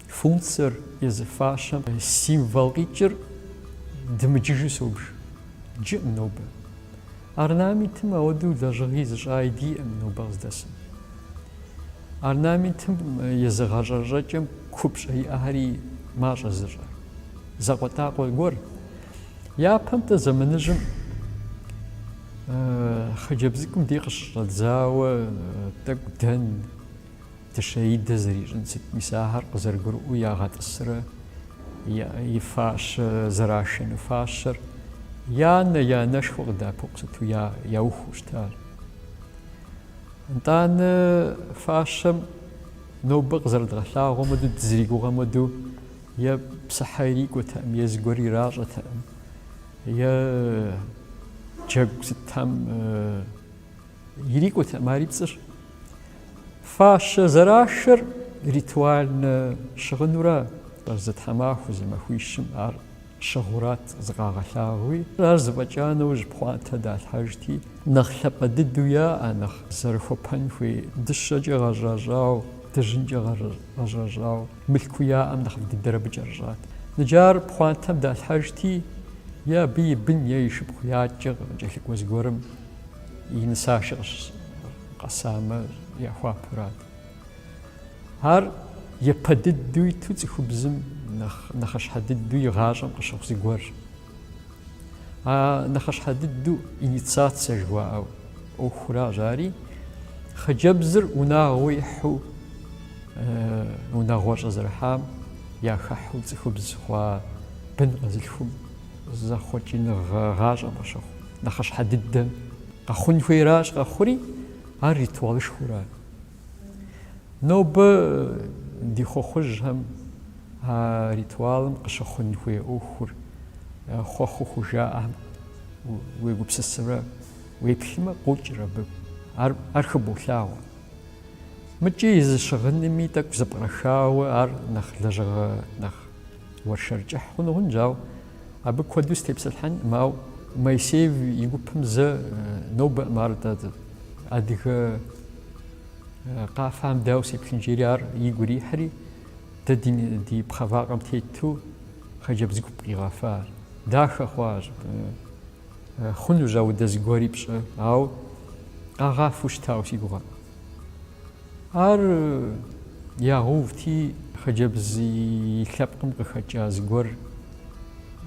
функцэр, езы фащэм символ къикӏыр дымыджыжу собж. Джыӏым нобэ. Орнаментым ауэдэу лэжьыгъи зыщӏаи диӏэм нобэ къыздэсым. Орнаментым езы гъэщӏэрэщӏэкӏэм купщӏэ иӏэхэри мащӏэ зыщӏэ закъуэтакъуэ гуэр. Япэм-тӏэ зэманыжьым хъыджэбз цӏыкӏум ди къыщыщӏэдзауэ тӏэкӏу дэн, дыщэидэ зэрищӏын сыт мис ахэр къызэрыгурыӏуэу ягъэтӏысрэ и фащэ зэрашэну фащэр и анэ, и анэшхуэ къыдэӏэпыкъуу сыту яухыу щытар. Нтӏанэ фащэм нобэ къызэрыдгъэлъагъуэм хуэдэу, дызэригугъэм хуэдэу е псыхьэ ирикӏуэтэкъым, е зыгуэр иращӏэтэкъым, е джэгу сытхэм ирикӏуэтэкъым, ари пцӏыщ. Фащэ зэрашэр ритуальнэ щыгъынуракъэ, зы тхьэмахуэ, зы махуищым ар щыгъурат зыкъагъэлъагъуи, ар зэфӏэкӏа нэужь пхъуантэ далъхьэжти, нэхъ лъапӏэ дыдэу яӏэ, нэхъ зэрыхуэпэн хуей дыщэкӏэ гъэщӏэщӏауэ, дыжьынкӏэ гъэщӏэщӏауэ, мылъкуу яӏэм нэхъыфӏ дыдэр абы кӏэрыщӏат. Ныджы ар пхъуантэм далъхьэжти, е абы и бын е и шыпхъу е адэкӏэ къыкӏэлъыкӏуэ зыгуэрым и нысашэ къэсамэ, яхуапэрат. Ар япэ дыдэу иту цӏыхубзым нэхъ нэхъыщхьэ дыдэу и гъащӏэм къыщыхъу зыгуэрщ. А нэхъыщхьэ дыдэу инициацэ жыхуаӏэу ӏуэхуращ ари. Хъыджэбзыр унагъуэ ихьу унагъуэщӏэ зэрыхьам яхэхьу цӏыхубз хъуа бын къэзылъхум зэхъуэкӏыныгъэ гъащӏэм къыщыхъу нэхъыщхьэ дыдэм къэхъун хуейращ къэхъури, ар ритуалышхуэу ара. Нобэ ди хъуэхъужьхэм а ритуалым къыщыхъун хуей ӏуэхур хъуэхъуу хужаӏэм уегупсысымрэ уеплъымэ, къокӏыр абы, ар, ар хыболъагъуэ. Мыкӏи и зы щыгъынми тӏэкӏу зэпкърахауэ ар нэхъ лэжьыгъэ, нэхъ Уэршэр кӏыхь хъуну хъунщ, ауэ абы куэду сытепсэлъхьэнкъым, ауэ Моисеев и гупым зэ нобэкъым ар дэ адыгэ къафэм дауэ сеплъын жери ар игу ирихьри, дэ ди пхъэвакъэм тету хъыджэбз гуп къигъэфащ. Дахэ хъуащ, хъунущ ауэдэ зыгуэри пщӏы, ауэ къагъафэу щытауэ си гугъэ. Ар ягъэувти, хъыджэбз и лъэпкъым къыхэкӏа зыгуэр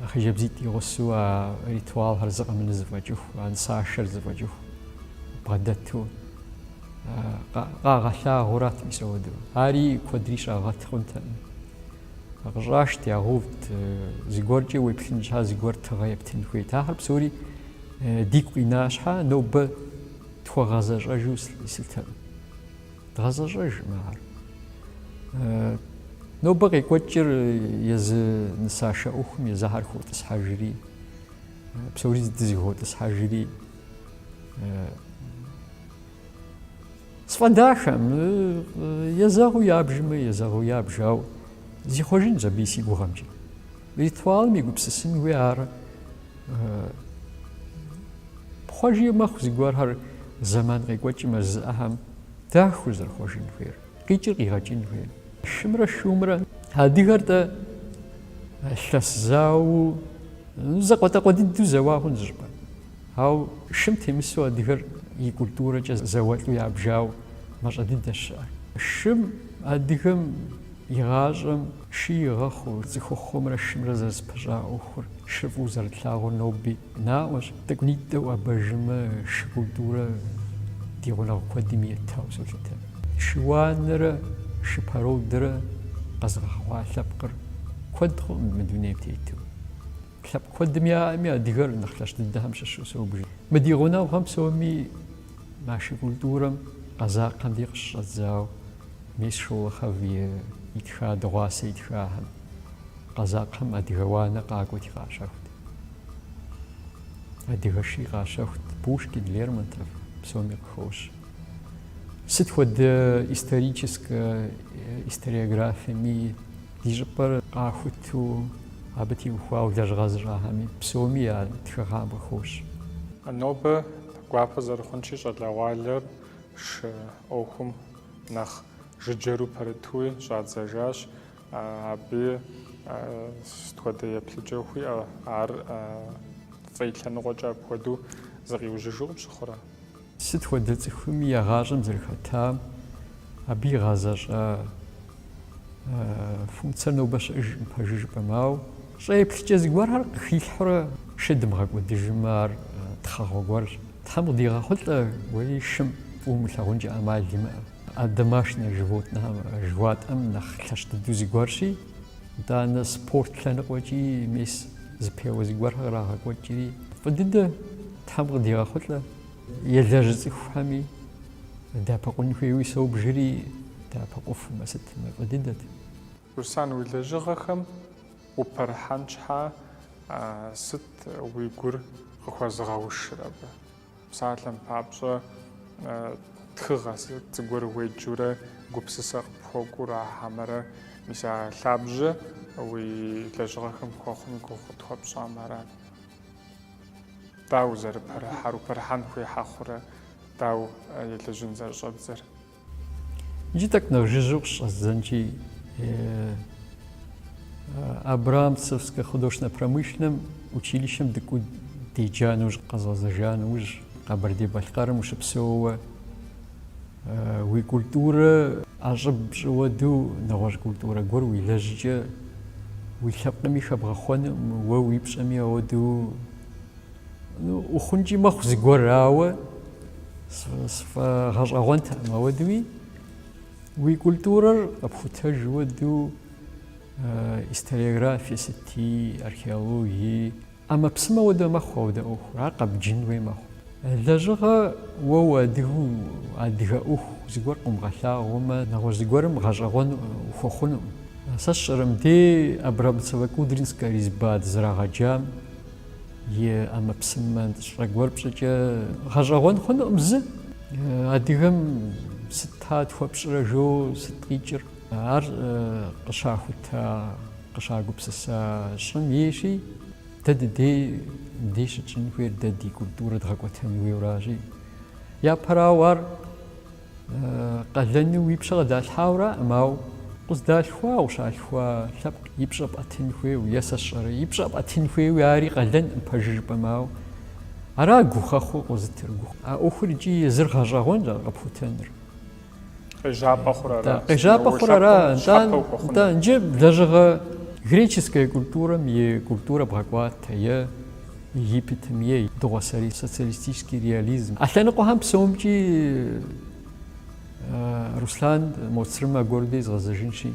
хъыджэбзитӏ игъусэу а ритуалхэр зы къэмынэу зэфӏэкӏыху, а нысашэр зэфӏэкӏыху бгъэдэту къагъэлъагъуэрат мис ауэдэу. Ари куэдри щагъэт хъунтэкъым. Къыщӏашт, ягъэувт, зыгуэркӏэ уеплъын щхьа зыгуэр тыгъэ ептын хуейт. Ахэр псори дигу къина щхьа, нобэ Тхуэгъэзэщӏэжу слъытэкъым. Дгъэзэщӏэжкъым ар. Нобэ къекӏуэкӏыр езы нысашэ ӏуэхум езыхьэр хотӏысхьэжри, псори дызэхотӏысхьэжри, сфӏэдахэм езэгъыу ябжмэ, езэгъыу ябж, ауэ зихъуэжынщ абыи си гугъэмкӏэ. Ритуалым егупсысын хуей ар пхъуэжи мэхъу зыгуэрхэр зэман къекӏуэкӏым а зыӏэхэм дахэу зэрыхъуэжын хуейр, къикӏыр къигъэкӏын хуейр. Шымрэ шумрэ адыгэр тӏэ лъэс зауэу зэкъуэтӏэкъуэ дыдэу зэуа хъун зыщӏыпӏэ. Ауэ шым темысу адыгэр и культурэкӏэ зауэлӏу ябжауэ мащӏэ дыдэщ щыӏэр. Шым адыгэм и гъащӏэм Шы игъэхъуу, цӏыхухъумрэ шымрэ зэрызпыщӏа ӏуэхур шы фӏыуэ зэрытлъагъуар ноби наӏуэщ. Тӏэкӏунитӏэ уӏэбэжымэ шы культурэ ди гъунэгъу куэдым итауэ солъытэ. Шы уанэрэ шы породэрэ къэзыгъэхъуа лъэпкъыр куэд хъуӏым мы дунейм тету. Лъэпкъ куэдым яӏэми адыгэр нэхъ лъэщ дыдэхэм щыщу соубжы. Мы ди гъунэгъухэм псоми Мы шы культурэм къэзакъэм дей къыщыщӏэдзауэ мис Шолохов и итха дыгъуасэ итхахэм, къэзакъэм адыгэ уанэ къакӏуэти къащэхут. Адыгэ ши къащэхут Пушкин, Лермонтов, псоми къыхощ. Сыт хуэдэ историческэ историографиеми ди щӏыпӏэр къахуту абы теухуауэ лэжьыгъэ зыщӏахэми псоми я тхыгъэм къыхощ. Нобэ Гуапэ зэрыхъунщи, щӏалэгъуалэр шы ӏуэхум нэхъ жыджэру пэрытуи щӏадзэжащ. Абы сыт хуэдэ еплъыкӏэ хууиӏэ? Ар фӏы лъэныкъуэкӏэ апхуэдэу зыкъиужьыжу къыпщыхъурэ? Сыт хуэдэ цӏыхуми я гъащӏэм зэрыхэтам, абы игъэзэщӏа Функцэр нобэ щыӏэжкъым пэжу жыпӏэмэ, ауэ щӏэ еплъыкӏэ зыгуэрхэр къыхилъхьурэ шы дымыгъэкӏуэдыжмэ, ар тхъэгъуэ гуэрщ. Тхьэм къыдигъэхъулӏэ уэи шым фӏыуэ умылъагъункӏэ ӏэмал имыӏэ. А домашнэ животнэхэм жыхуатӏэм нэхъ лъэщ дыдэу зыгуэрщи, итӏанэ спорт лъэныкъуэкӏи мис зэпеуэ зыгуэрхэр кърагъэкӏуэкӏри. Фӏы дыдэ, Тхьэм къыдигъэхъулӏэ, елэжьы цӏыхухэми. Дэӏэпыкъун хуейуи собжри, дэӏэпыкъуфмэ, сыт мы фӏы дыдэт. Руслан уи лэжьыгъэхэм упэрыхьэн щхьэ сыт уи гур къыхуэзыгъэушыр абы? Псалъэм папщӏэ тхыгъэ зыгуэр уеджурэ гупсысэ къыпхуэкӏур а хьэмэрэ, мис а лъабжьэ уи лэжьыгъэхэм хуэхъум и гугъу къытхуэпщӏамэ арат. Дауэ зэрыпэрыхьэр, упэрыхьэн хуей хъурэ, дауэ елэжьын зэрыщӏэбдзэр? Иджы тӏэкӏу нэхъ жыжьэу къыщӏэздзэнщи, Абрамцевскэ художественнэ-промышленнэ училищэм дыкӏуу деджа нэужь, къэзгъэзэжа нэужь, Къэбэрдей-Балъкъэрым ущыпсэууэ, Уи культурэ ӏэщӏыб пщӏыуэ ауэдэу нэгъуэщӏ культурэ гуэр уелэжькӏэ, уи лъэпкъми хэбгъэхъуэнукъым, уэ уи пщӏэми ауэдэу, ну, ухъункӏи мэхъу зыгуэр, ауэ сфӏэгъэщӏэгъуэнтэкъым ауэдэуи, уи культурэр къэпхутэж ауэдэу историографие сыти, археологии, ӏэмэпсымэ ауэдэ мэхъу ауэдэ ӏуэхур, ар къэбджын хуей мэхъу. Лэжьыгъэ, уэ уадыгэу адыгэ ӏуэху зыгуэр къыумыгъэлъагъуэмэ, нэгъуэщӏ зыгуэрым гъэщӏэгъуэн ухуэхъунукъым. Сэ сщӏэрэ мыдэ Абрамцево-Кудринскэ резьба дызэрагъэджам и ӏэмэпсымэ щӏэ гуэр пщӏыкӏэ, гъэщӏэгъуэн хъунукъым. Зы адыгэм сыт атӏэ хуэпщӏэрэ жо, сыт къикӏыр? Ар къыщахута, къыщагупсыса щӏым ейщи, дэ дыдей мыбдей щытщӏын хуейр дэ ди культурэ дгъэкӏуэтэн хуейуращи. Япэрауэ ар къалэну уи пщэ къыдалъхьауэ аракъым, ауэ укъыздалъхуа, укъыщалъхуа лъэпкъ и пщӏэ пӏэтын хуейуэ, е сэ сщӏэрэ, и пщӏэ пӏэтын хуейуи ари къалэнкъым пэжу жыпӏэмэ, ауэ ара гухэхъуэ къозытыр? А ӏуэхур икӏи езыр гъэщӏэгъуэнщ ар къэпхутэныр. Къежьапӏэ хъур ара? Къежьапӏэ хъур ара? Нтӏэ, нтӏэ, иджы лэжьыгъэ греческэ культурэм и культурэ бгъэкӏуатэ е Египетым е дыгъуасэрей социалистический реализм. А лъэныкъуэхэм псомкӏи Руслан Мо Црым аргуэру дей згъэзэжынщи,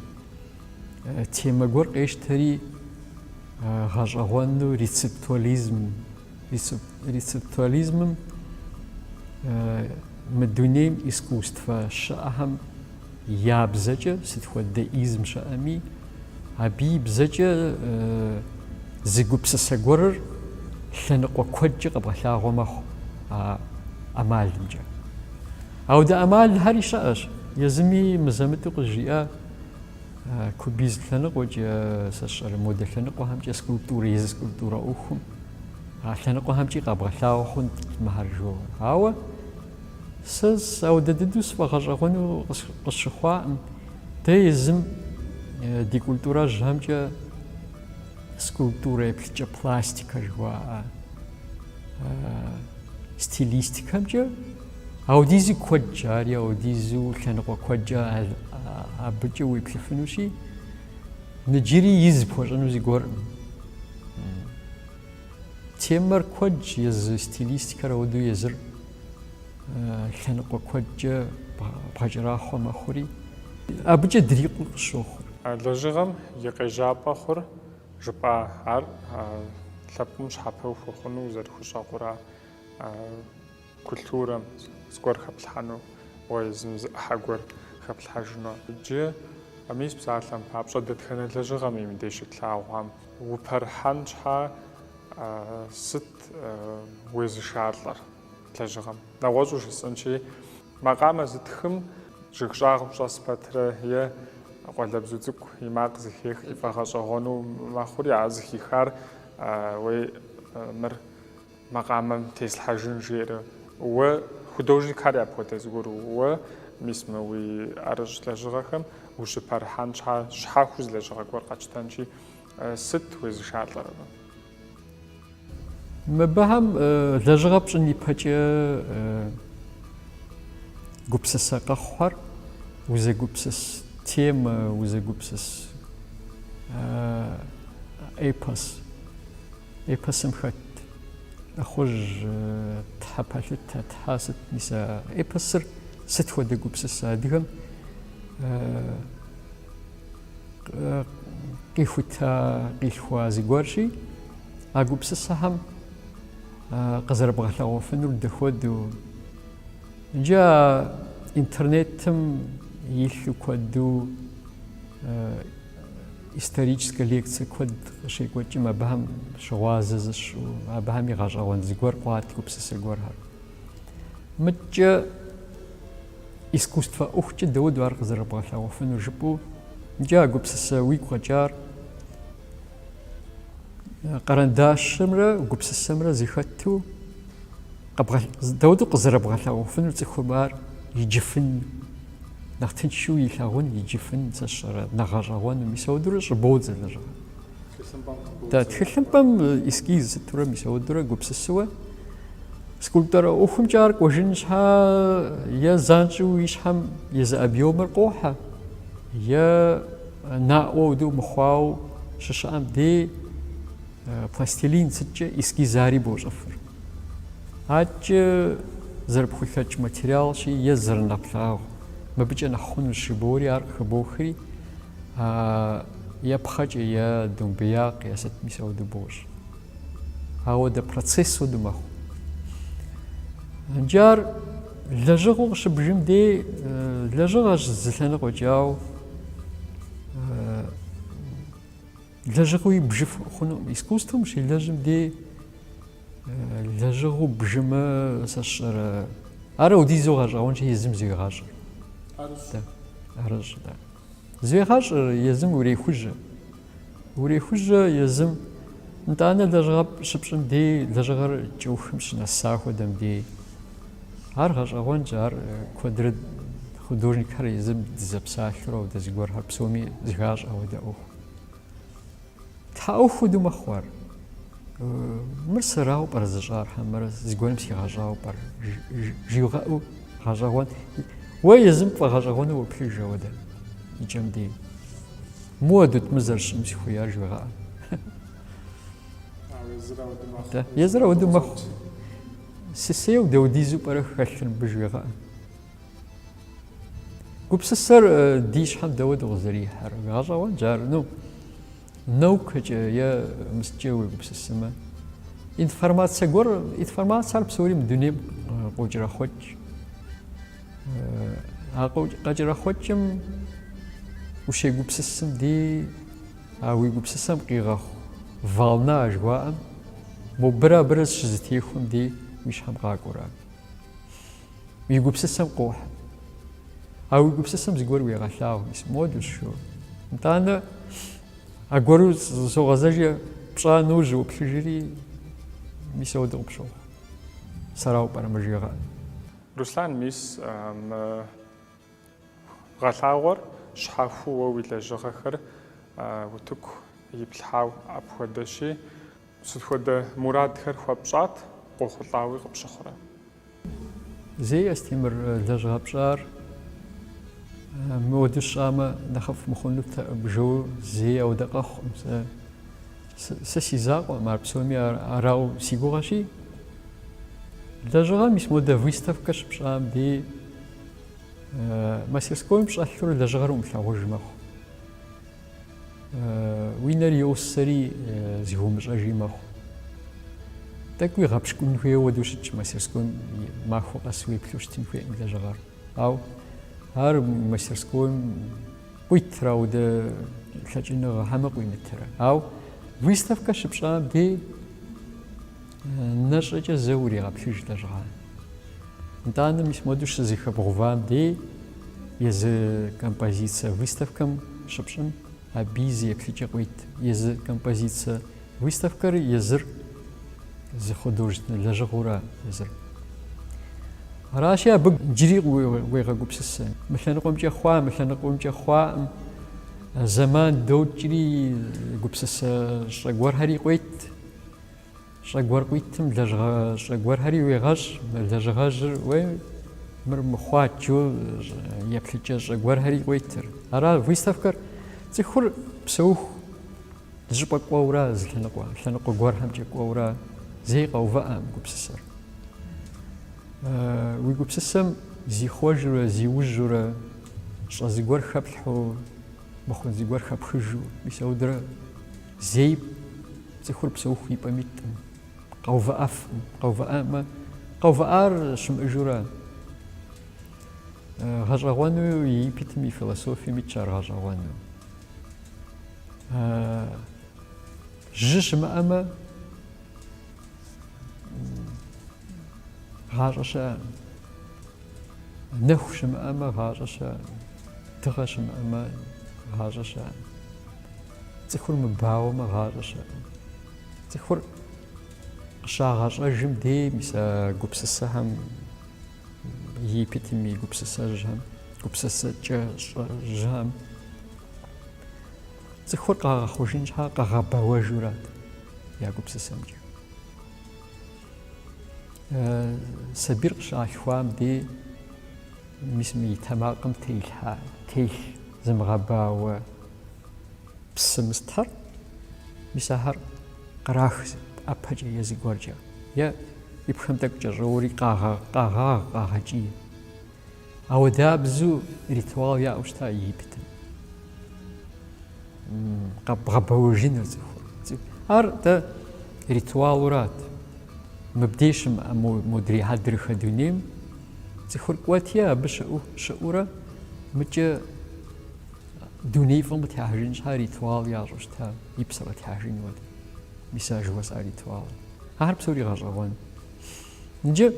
темэ гуэр къещтэри гъэщӏэгъуэну рецептуализм Рецептуализмым мы дунейм искусствэ щыӏэхэм я бзэкӏэ сыт хуэдэ изм щыӏэми, абы и бзэкӏэ зы гупсысэ гуэрыр лъэныкъуэ куэдкӏэ къэбгъэлъагъуэ мэхъу а ӏэмалымкӏэ. Ауэдэ ӏэмалхэри щыӏэщ. Езыми мызэ-мытӏу къызжиӏэ кубизм лъэныкъуэкӏэ, сэ сщӏэрэ модэ лъэныкъуэхэмкӏэ, скульптурэ, езы скульптурэ ӏуэхум. А лъэныкъуэхэмкӏи къэбгъэлъагъуэ хъунт мыхэр жо. Ауэ сэ ауэдэ дыдэу сфӏэгъэщӏэгъуэну къысщыхъуакъым. Дэ езым ди культурэжьхэмкӏэ скульптурэ еплъыкӏэ пластикэ жыхуаӏэ стилистикэмкӏэ ауэдизу куэдщ, ари ауэдизу лъэныкъуэ куэдкӏэ абыкӏэ уеплъыфынущи, Ныджыри из пхуэщӏыну зыгуэркъым. Темэр куэдщ, езы стилистикэр ауэдэу езыр лъэныкъуэ куэдкӏэ бгъэкӏэрахъуэ мэхъури, абыкӏэ дрикъуу къысщохъур. Лэжьыгъэм и къежьапӏэ хъур жыпӏа ар лъэпкъым щхьэпэу хуэхъуну зэрыхущӏэкъура? Культурэм зыгуэр хэплъхьэну, уэ езым зы ӏыхьэ гуэр хэплъхьэжыну. Иджы мис псалъэм папщӏэ, дэтхэнэ лэжьыгъэми мыбдеж щытлъагъуам упэрыхьэн щхьа сыт уезышалӏэр лэжьыгъэм? Нэгъуэщӏу жысӏэнщи, макъамэ зытхым жыг щӏагъым щӏэс пэтрэ е къуалэбзу цӏыкӏу и макъ зыхех ифӏэгъэщӏэгъуэну мэхъури, а зыхихар уей мыр макъамэм теслъхьэжын жиӏэрэ уэ художникхэр апхуэдэ зыгуэр уэ мис мы уи ӏэрыщӏ лэжьыгъэхэм ущыпэрыхьэн щхьа щхьэхуэу зы лэжьыгъэ гуэр къэтщтэнщи сыт уезышалӏэр абы? Мыбыхэм лэжьыгъэ пщӏын ипэкӏэ гупсысэ къэхъухэр узэгупсыс темэ, узэгупсыс эпос Эпосым хэт лӏыхъужь, тхьэ пэлъытэ, тхьэ сыт, мис а эпосыр сыт хуэдэ гупсысэ адыгэм къихута, къилъхуа зыгуэрщи, а гупсысэхэм къызэрыбгъэлъэгъуэфынур дэхуэдэу. Иджы а интернетым илъу куэду Историческэ лекцэ куэд къыщекӏуэкӏым абыхэм щыгъуазэ зыпщӏу, абыхэми гъэщӏэгъуэн зыгуэр къуат гупсысэ гуэрхэр. Мыдкӏэ искусствэ ӏуэхукӏэ дауэдэу ар къызэрыбгъэлъэгъуэфыну жыпӏэу, икӏи а гупсысэ уигу къэкӏар къэрэндащымрэ гупсысэмрэ зыхэту дауэдэу къызэрыбгъэлъэгъуэфыну цӏыхум ар иджыфын Нэхъ тыншу илъагъун, иджыфын, сэ сщӏэрэ, нэхъ гъэщӏэгъуэну, мис ауэдурэ щӏыбодзэ лэжьыгъэр. Да, тхылъымпӏэм эскиз сытурэ мис ауэдурэ гупсысуэ скульптурэ ӏуэхумкӏэ ар кӏуэжын щхьа е занщӏэу и щхьэм езы объемыр къохьэ, е наӏуэ ауэдэу мыхъуау щыщыӏэм дей Пластилин сыткӏэ эскизари бощӏыфыр, адэкӏэ зэрыпхулъэкӏ материалщи е зэрынэплъагъу, мыбыкӏэ нэхъ хъунущ жыбори ар къыхыбохри, е пхъэкӏэ, е домбеякъ, е сыт мис ауэдэ бощӏ. Ауэдэ процесс уэду мэхъу. Иджы ар лэжьыгъэу къыщыбжым дей лэжьыгъэщ зы лъэныкъуэкӏэ, ауэ Лэжьыгъуи бжыф хъунукъым искусством щелэжьым дей лэжьыгъу бжымэ сэ сщӏэрэ ар аудизу гъэщӏэгъуэнщи езым зуегъащӏэр. Арыщ. Арыщ, да. Зуегъащӏэр езым урехужьэ. Урехужьэ езым нтӏанэ лэжьыгъэ щыпщӏым дей лэжьыгъэр кӏэухым щынэса хуэдэм дей. Ар гъэщӏэгъуэнщ, ар куэдрэ художникхэр езым дызэпсалъэурэ ауэдэ зыгуэрхэр псоми зыхащӏэ ауэдэ ӏуэху. Тхьэ ӏуэху хуэдэу мэхъу ар. Мыр сэрау пӏэрэ зыщӏар хьэмэрэ зыгуэрым сигъэщӏауэ пӏэрэ жыуигъэӏэу гъэщӏэгъуэн. Уэ езым пфӏэгъэщӏэгъуэну уеплъыж ауэдэ и кӏэм дей. Муэдут мы зэрыщӏым сыхуеяр жыуегъэӏэ. Езыр ауэдэу мэхъу. Сысейу даудизу пӏэрэ хэлъыр мыбы жыуегъэӏэ. Гупсысэр ди щхьэм дауэду къызэрихьэр гъэщӏэгъуэнщ ар, ну, наукэкӏэ е мы сыткӏэ уегупсысымэ. Информацэ гуэр, информацэр псори мы дунейм къокӏэрэхъуэкӏ. А къэкӏэрэхъуэкӏым ущегупсысым дей, а уи гупсысэм къигъэхъу волна жыхуаӏэм, мобырэ абырэ щызэтехуэм дей уи щхьэм къакӏуэрэ. Уи гупсысэм къохьэ. А уи гупсысэм зыгуэр уегъэлъагъу, мис моди що. Нтӏанэ, аргуэру согъэзэжи пщӏа нэужь уоплъыжри, мис ауэдэу къыпщохъу. Сэрау пӏэрэ мы жыуегъэӏэр? Руслан, мис мы гъэлъагъуэр щхьэхуэу уэ уи лэжьыгъэхэр утыку иплъхьау апхуэдэщи, Сыт хуэдэ мурадхэр хуэпщӏат, къохъулӏауи къыпщыхъурэ? Зэи Астемыр лэжьыгъэ пщӏар моду сщӏамэ нэхъыфӏ мыхъунут, бжэу зэи ауэдэ къэхъукъым. Сэ, сэ си закъуэкъым ар псоми, арау си гугъэщи. Лэжьыгъэм мис модэ выставкэ щыпщӏам дей мастерскойм щӏэлъурэ лэжьыгъэр умылъагъуж мэхъу. Уи нэр йосэри зыхыумыщӏэжи мэхъу. Тӏэкӏуи гъэпщкӏун хуейуэ ауэдэу щытщ мастерскойм махуэ къэс уеплъу щытын хуейӏым лэжьыгъэр. Ау ар мастерскойм къуитрэ ауэдэ лъэкӏыныгъэ хьэмэ къуимытрэ. Ау выставкэ щыпщӏам дей Нэ щӏэкӏэ зэ уригъэплъыж лэжьыгъэ. Нтӏанэ мис модэу щызыхэбгъувам дей езы композицэ выставкэм щыпщӏым аби зы еплъыкӏэ къуейт. Езы композицэ выставкэр езыр зы художественнэ лэжьыгъэура езыр. Аращи, абы джыри уегъэгупсысэ. Мы лъэныкъуэмкӏэ хъуа, мы лъэныкъуэмкӏэ хъуаӏым. Зэман докӏри гупсысэ щӏэ гуэрхэри къуейт. Щӏэ гуэр къуитым лэжьыгъэ щӏэ гуэрхэри уегъэщӏ, лэжьыгъэжьыр уей мыр мыхъуаджэу еплъыкӏэ щӏэ гуэрхэри къуитыр. Ара выставкэр цӏыхур псэуху зыщӏыпӏэ кӏуэурэ зы лъэныкъуэ, лъэныкъуэ гуэрхэмкӏэ кӏуэурэ зэи къэувыӏэӏым гупсысэр. Уи гупсысэм зихъуэжурэ, зиужьурэ, щӏэ зыгуэр хэплъхьэу, мыхъун зыгуэр хэпхыжу, мис ауэдурэ Зэи цӏыхур псэуху и пӏэм итӏым, къэувыӏэфӏым, къэувыӏэмэ, къэувыӏар щымыӏэжурэ, гъэщӏэгъуэну Египетым и философием итщ ар гъэщӏэгъуэну. Жьы щымыӏэмэ, гъащӏэ щыӏэкъым. Нэху щымыӏэмэ, гъащӏэ щыӏэкъым. Дыгъэ щымыӏэмэ, гъащӏэ щыӏэкъым. Цӏыхур мыбауэмэ, гъащӏэ щыӏэкъым. Цӏыхур къыщагъэщӏэжым дей мис а гупсысэхэм Египетым и гупсысэжьхэм, гупсысэкӏэ щӏэжьхэм цӏыхур къагъэхъужын щхьэ къэгъэбэуэжурат я гупсысэмкӏэ. Сабийр къыщалъхуам дей мис мы и тэмакъым телъхьа, телъ зымыгъэбауэ псы мыстхэр, мис ахэр кърах зы ӏэпэкӏэ е зыгуэркӏэ, е ипхэм тӏэкӏу кӏэщӏоуэри къагъэ, къагъагъ, къагъэкӏий. Ауэдабзу ритуал яӏэу щыта Египетым. М, Къэбгъэбэуэжыныр цӏыхур. Цӏы- Ар дэ ритуалурат. Мыбдей щымыӏэ мо- модрей хьэдрыхэ дунейм цӏыхур кӏуэти, абы щыӏэу, щыӏэурэ мыкӏэ Дуней фӏым къытехьэжын щхьа ритуал ящӏу щта, и псэ къытехьэжын уэд. Мис а жыуэсӏа ритуал. Ахэр псори гъэщӏэгъуэн. Иджы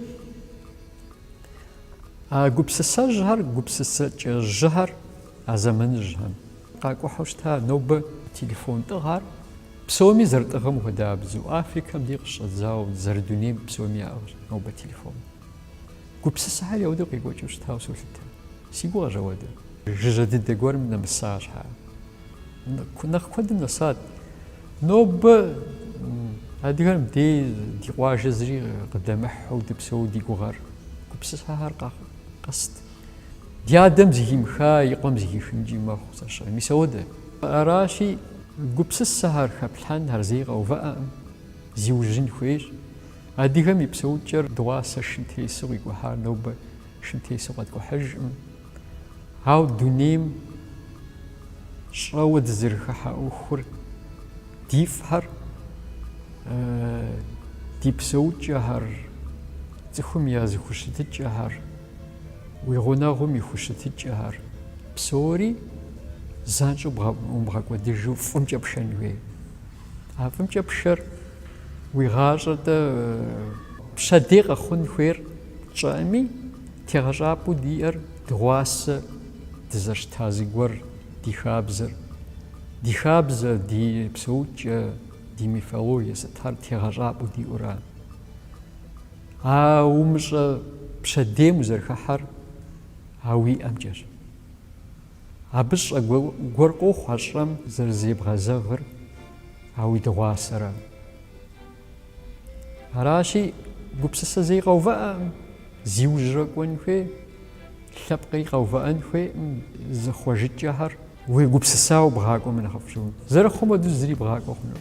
а гупсысэжьхэр, гупсысэкӏэжьхэр а зэманыжьхэм къакӏухьу щта, нобэ телефон тӏыгъэр псоми зэрытӏыгъэм хуэдабзэу, Африкэм дей къыщыщӏэдзауэ зэрыдунейм псоми яӏыгъщ нобэ телефон. Гупсысэхэр яуэдэу къекӏуэкӏыу щытауэ солъытэ. Си гугъэщ ауэдэ. Жыжьэ дыдэ гуэрым нэмыса щхьа, нэхъ куэдым нэсат. Нобэ адыгэм дей ди къуажэ зыри къыдэмыхьу дыпсэу ди гугъэр, гупсысэхэр къэст. Ди адэм зыхимыха и къуэм зыхихынкӏи мэхъу зэщыгъ. Мис ауэдэ. Аращи, гупсысэхэр хэплъхьэн ар зэи къэувыӏэӏым, зиужьын хуейщ. Адыгэм и псэукӏэр дыгъуасэ шым тесу къикӏухьар нобэ шым тесу къэткӏухьыжӏым. Ауэ дунейм щӏэуэ дызэрыхыхьэ ӏуэхур ди фӏхэр, ди псэукӏэхэр, цӏыхум я зыхущытыкӏэхэр, уи гъунэгъум и хущытыкӏэхэр псори занщӏэу умыбгъэкӏуэдыжу фӏымкӏэ пшэн хуей. А фӏымкӏэ пшэр уи гъащӏэ-тӏэ? Пщэдей къэхъун хуейр тщӏэӏыми, тегъэщӏапӏэу диӏэр дыгъуасэ дызэщта зыгуэр, ди хабзэр. Ди хабзэ, ди псэукӏэ, ди мифологие сытхэр тегъэщӏапӏэу диӏура. А умыщӏэ пщэдейм узэрыхыхьэр а уи ӏэмкӏэщ. Абы щӏэ гуэр къохъу а щӏэм зэрызебгъэзэгъыр, а уи дыгъуасэрэ. Аращи, гупсысэ зэи къэувыӏэӏым, зиужьрэ кӏуэн хуей, лъэпкъри къэувыӏэн хуейӏым, зыхъуэжыкӏэхэр уегупсысауэ бгъакӏуэмэ нэхъыфӏ щыгъуи. Зэрыхъум хуэдэу зыри бгъакӏуэ хъуну.